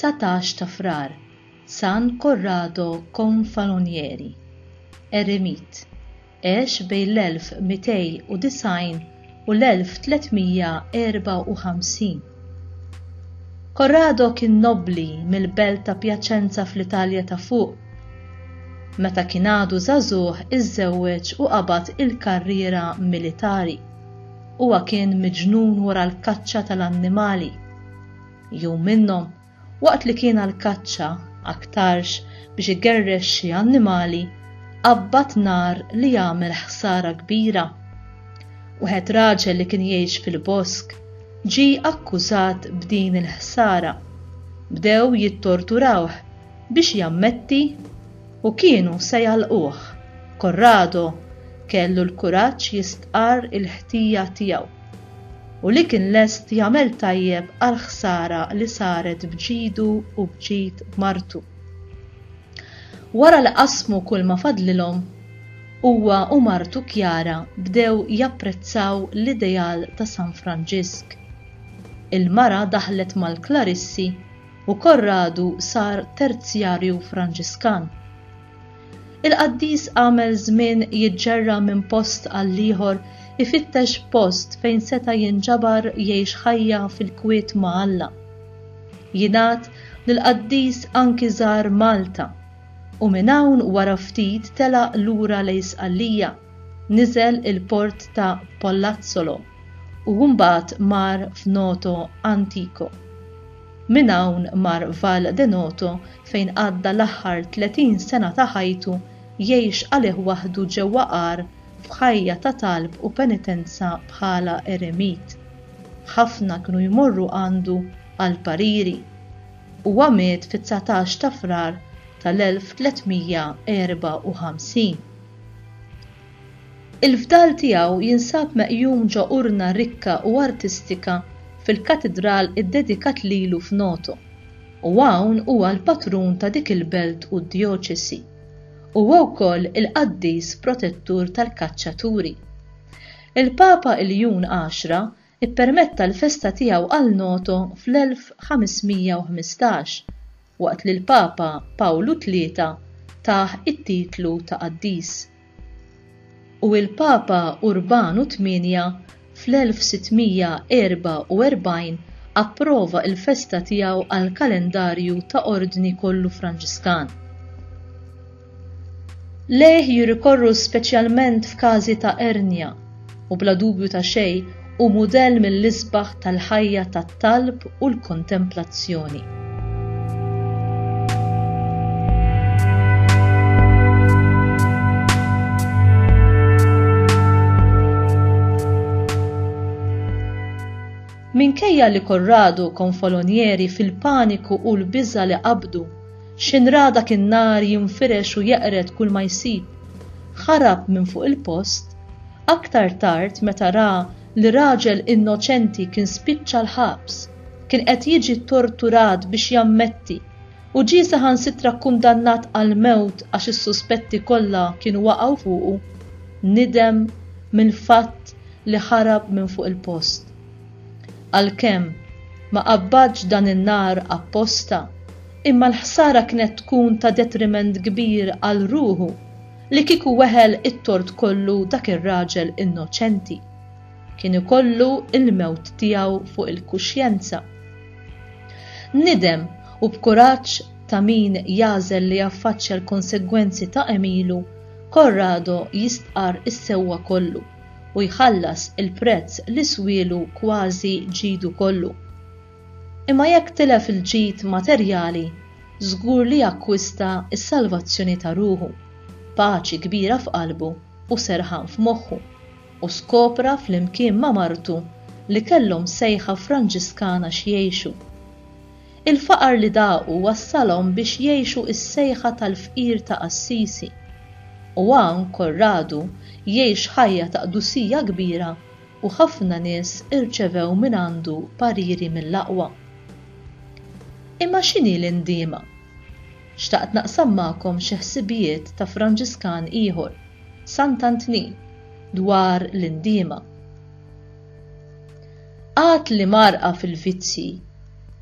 19 ta' frar San Corrado Confalonieri, Eremit, għex bejn l-1290 u l-1354. Korrado kien nobbli mill-belt ta' Pjaċenza fl-Italja ta' Fuq. Meta kien għadu żagħżugħ iżżewweġ u qabad il-karriera militari. Huwa kien miġnun wara l-kaċċa tal-annimali. Jum minnhom, Waqt li kien għall-kaċċa, aktarx biex igerrex xi annimali, qabbad nar li għamel ħsara kbira. Wieħed raġel li kien jgħix fil-bosk ġie akkużat b'din il-ħsara. Bdew jittorturawh biex jammetti u kienu se jagħlquh. Corrado kellu l-kuraġġ jistqarr il-ħtija tiegħu. u li kien lest jagħmel tajjeb għall-ħsara li saret b'ġidu u b'ġid martu. Wara li qasmu kull ma fadlilhom, huwa u martu Chiara bdew japprezzaw l-ideal ta' San Franġisk. Il-mara daħlet mal-Klarissi u Corradu sar Terzjarju Franġiskan. Il-qaddis għamel żmien jiġġerra minn post għall-ieħor ifittex post fejn seta' jinġabar jgħix ħajja fil-kwiet ma' Alla. Jingħad li l-qaddis anki żar Malta u minn hawn wara ftit telaq lura lejn Sqallija, niżel il-port ta' Pollazzolo u mbagħad mar f'Noto Antico. Minn hawn mar Val Denoto fejn għadda l-aħħar 30 sena ta' ħajtu jgħix għalih waħdu ġewwa għar f'ħajja ta' talb u penitenza bħala eremit. Ħafna kienu jmorru għandu għal pariri. Huwa miet fit-19 ta' Frar tal-1354. Il-fdal tiegħu jinsab meqjum ġo urna rikka u artistika fil-katidral iddedikat lilu f'Noto, u hawn huwa l-patrun ta' dik il-belt u d-djoċesi. Huwa wkoll il-qaddis protettur tal-kaċċaturi. Il-Papa Iljun Għaxra ippermetta l-festa tiegħu għal Noto fl-1515, waqt li l-Papa Pawlu Tlieta tah it-titlu ta' qaddis, u l-Papa Urbanu Tmienja fl-1644 approva l-festa tiegħu għall-kalendarju ta' ordni kollu Franġiskan. Lejh jirrikorru speċjalment f'każi ta' ernja u bla dubju ta' xejn hu mudell mill-isbaħ tal-ħajja tat-talb u l-kontemplazzjoni. Minkejja li Corrado u konfalonieri fil-paniku u l-biża' li qabdu X'inrada kien nar jinfirex u jeqred kull ma jsib. Ħarab minn fuq il-post. Aktar tard meta ra li raġel innoċenti kien spiċċa l-ħabs, kien qed jiġi ttorturat biex jammetti u ġie saħansitra kkundannat għall-mewt għax is-suspetti kollha kienu waqgħu fuqu, nidem mill-fatt li ħarab minn fuq il-post. Għalkemm, ma qabbadx dan in-nar apposta, imma l-ħsara kienet tkun ta' detriment kbir għal ruħu li kieku weħel it-tort kollu dak ir-raġel innoċenti. Kien ikollu l-mewt tiegħu fuq il-kuxjenza. Nidem u b'kuraġġ ta' min jagħżel li jaffaċċja l-konsegwenzi ta' għemilu, Corrado jistqarr is-sewwa kollu. u jħallas il-prezz li swielu kważi ġidu kollu. Imma jekk tilef il-ġid materjali, żgur li akkwista s-salvazzjoni ta' ruħu, paċi kbira f'qalbu u serħan f'moħħu, u skopra flimkien ma' martu li kellhom sejħa Franġiskana x'jgħixu. Il-faqar li daqu wassalhom biex jgħixu s-sejħa tal-fqir ta' Assisi. U hawn Korradu jgħix ħajja ta' qdusija kbira u ħafna nies irċevew mingħandu pariri mill-aqwa. Imma x'inhi l-indiema? Xtaqt naqsam magħkom xi ħsibijiet ta' Franġiskan ieħor, Sant'Antnin, dwar l-indiema. Għad li mgħarrqa fil-vizzji,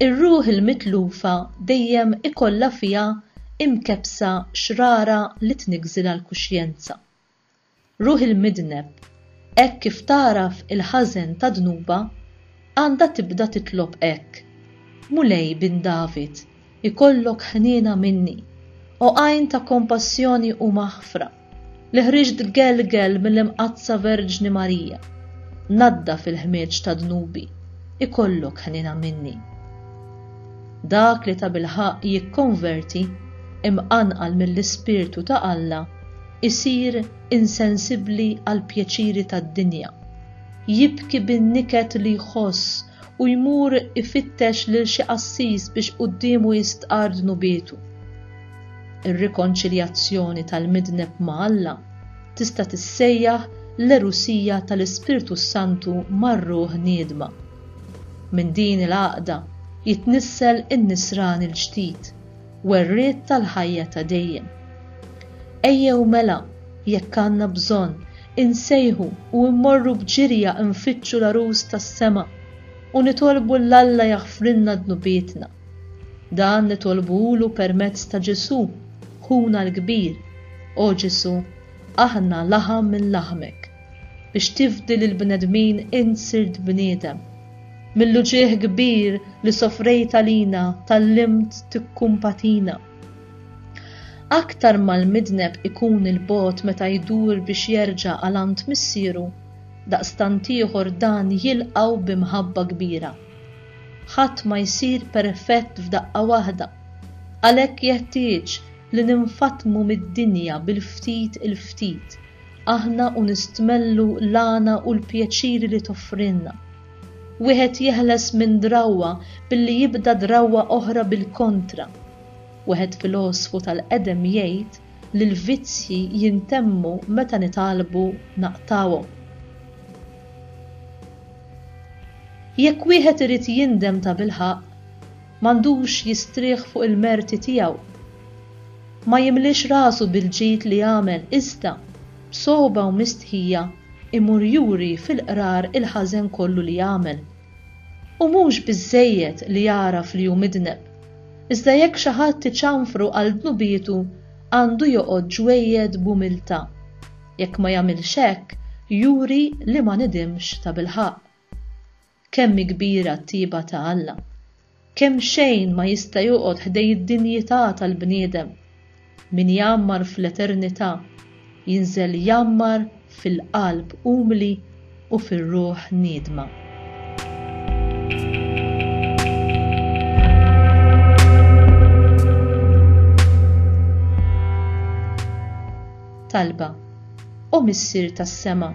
ir-ruħ il-mitlufa dejjem ikollha fiha imkebbsa xrara li tniggżilha l-kuxjenza. Ruħ il-midneb, hekk kif tagħraf il-ħażen ta' dnubha, għandha tibda titlob hekk, Mulej bin David, Ikollok ħniena minni, O Għajn ta' kompassjoni u maħfra, li ħriġt gelgel mill-Imqaddsa Verġni Marija, naddaf il-ħmieġ ta' dnubi, ikollok ħniena minni. Dak li tabilħaqq jikkonverti, imqanqal mill-Ispirtu ta' Alla, isir insensibbli għall-pjaċiri tad-dinja, jibki bin-niket li jħoss u jmur ifittex lil xi qassis biex quddiemu jistqarr dnubietu. Ir-rikonċiljazzjoni tal-midneb ma' Alla tista' tissejjaħ l-erusija tal-Ispirtu s-Santu mar-ruħ niedma. Minn din il-għaqda jitnissel in-nisrani l-ġdid werriet tal-ħajja ta' dejjem. Ejjew mela, jekk għandna bżonn, insejħu u mmorru b'ġirja nfittxu l-Għarus tas-sema u nitolbu 'l Alla jaħfrilna dnubietna. Dan nitolbuhulu permezz ta' Ġesù, Ħuna l-Kbir. O Ġesù, aħna laħam minn laħmek. Biex tifdi lill-bnedmin int sirt bniedem. Mill-uġigħ kbir li sofrejt għalina tgħallimt tikkumpatina. Aktar ma l-midneb ikun 'il bogħod meta jdur biex jerġa' għal għand missieru, daqstant ieħor dan jilqgħu bi mħabba kbira. Ħadd ma jsir perfett f'daqqa waħda, għalhekk jeħtieġ li ninfatmu mid-dinja bil-ftit il-ftit. aħna u nistmellu l-għana u l-pjaċiri li toffrilna. Wieħed jeħles minn drawwa billi jibda drawwa oħra bil-kontra. Wieħed filosfu tal-qedem jgħid li l-vizzji jintemmu meta nitgħallbu naqtgħuhom. Jekk wieħed irid jindem tabilħaqq, m'għandux jistrieħ fuq il-merti tiegħu. Ma jimliex rasu bil-ġid li għamel iżda, b'sogħba u mistħija, imur juri fil-qrar il-ħażen kollu li għamel. U mhux biżżejjed li jagħraf li hu midneb, iżda jekk xi ħadd iċanfru għal dnubietu għandu joqgħod ġwejjed b'umiltà. Jekk ma jagħmilx hekk, juri li ma nidimx tabilħaqq. Kemm hi kbira t-tjieba ta' Alla! Kemm xejn ma jista' joqgħod ħdejn id-dinjità tal-bniedem! Min jgħammar fl-eternità jinżel jgħammar fil-qalb umli u fir-ruħ niedma. Talba, O Missier tas-sema,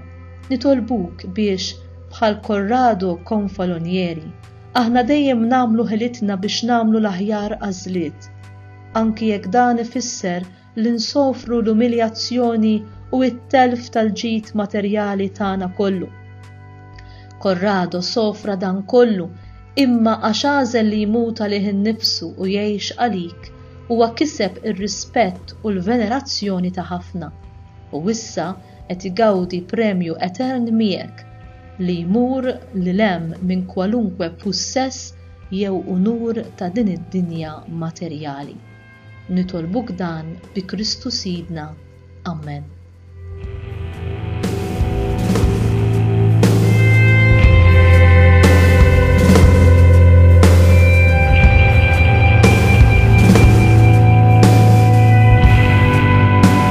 nitolbuk biex, Bħal Corrado Confalonieri, aħna dejjem nagħmlu ħilitna biex nagħmlu l-aħjar għażliet, anki jekk dan ifisser li nsofru l-umiljazzjoni u t-telf tal-ġid materjali tagħna kollu. Corrado sofra dan kollu imma għax għażel li jmut għalih innifsu u jgħix għalik huwa kiseb ir-rispett u l-venerazzjoni ta' ħafna u issa qed igawdi premju etern miegħek li jmur lil hemm minn kwalunkwe pussess jew unur ta' din id-dinja materjali. Nitolbuk dan bi Kristu Sidna. Ammen.